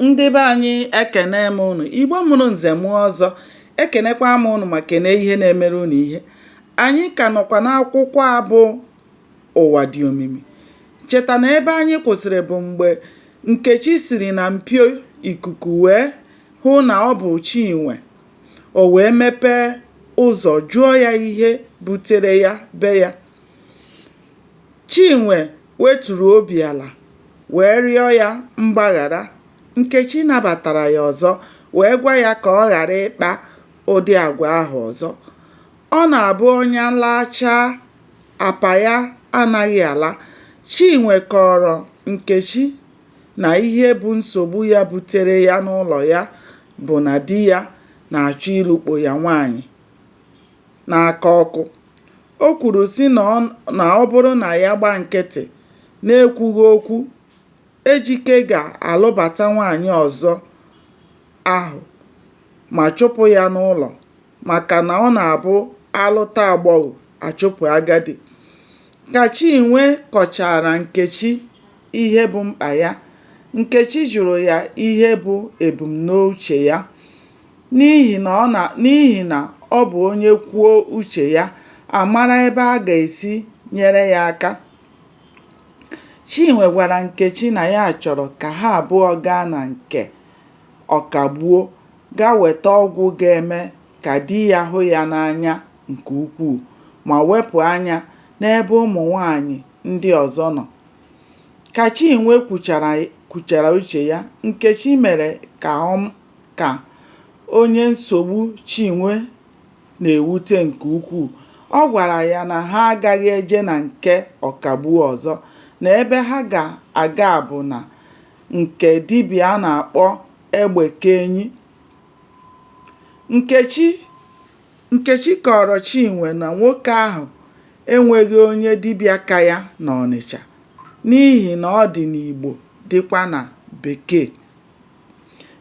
ndị be anyị ekene m ụnụ igbo mụrụ nze mụọ ọzọ ekenekwa m ụnụ ma kene ihe na-emere ụnụ ihe anyị ka nọkwa n'akwụkwọ a bụ ụwa dị omimi cheta na ebe anyị kwụsịrị bụ mgbe nkechi siri na mpio ikuku wee hụ na ọ bụ chinwe o wee mepee ụzọ jụọ ya ihe butere ya be ya chinwe weturu obi ala wee rịọ ya mgbaghara, Nkechi nabatara ya ọzọ wee gwa ya ka ọ ghara ịkpa ụdị agwa ahụ ọzọ. Ọ na-abụ ọnya laachaa, apa ya anaghị ala. Chinwe kọọrọ Nkechi na ihe bụ nsogbu ya butere ya n'ụlọ ya bụ na di ya na-achọ ịlụkpo ya nwaanyị n'aka ọkụ. O kwuru sị na ọ bụrụ na ya gba nkịtị na-ekwughị okwu, Ejike ga-alụbata nwaanyị ọzọ ahụ ma chụpụ ya n'ụlọ maka na ọ na-abụ a lụta agbọghọ, a chụpụ agadi. Ka Chinwe kọchaara Nkechi ihe bụ mkpa ya, Nkechi jụrụ ya ihe bụ ebumnuche ya. n'ihi na ọ bụ onye kwuo uche ya, a mara ebe a ga-esi nyere ya aka. Chinwe gwara Nkechi na ya chọrọ ka ha abụọ gaa na nke Ọkagbuo gaa weta ọgwụ ga-eme ka di ya hụ ya n'anya nke ukwuu ma wepụ anya n'ebe ụmụ nwaanyị ndị ọzọ nọ. Ka Chinwe kwuchara uche ya, Nkechi mere ka ka onye nsogbu Chinwe na-ewute nke ukwuu. Ọ gwara ya na ha agaghị eje na nke Ọkagbuo ọzọ, na ebe ha ga-aga bụ na nke dibịa a na-akpọ Egbekeenyi. Nkechi kọọrọ Chinwe na nwoke ahụ enweghị onye dibịa ka ya n'Ọnịcha n'ihi na ọ dị n'Igbo dịkwa na Bekee.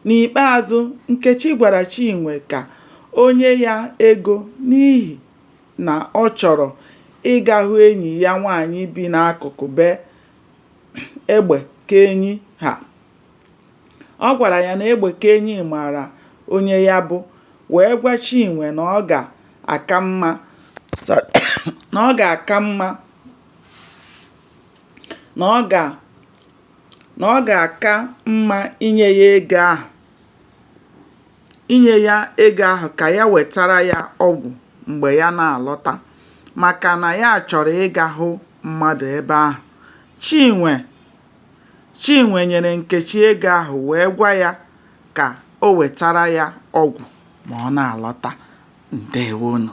N'ikpeazụ, Nkechi gwara Chinwe ka o nye ya ego n'ihi na ọ chọrọ ịga hụ enyi ya nwaanyị bi n'akụkụ be Egbekeenyi ha. Ọ gwara ya na Egbekeenyi maara onye ya bụ wee gwa Chinwe na ọ ga-aka mma na ọ ga na ọ ga-aka mma inye ya ego ahụ inye ya ego ahụ ka ya wetara ya ọgwụ mgbe ya na-alọta maka na ya chọrọ ịga hụ mmadụ ebe ahụ. Chinwe Chinwe nyere Nkechi ego ahụ wee gwa ya ka o wetara ya ọgwụ ma ọ na-alọta. Ndeewonụ.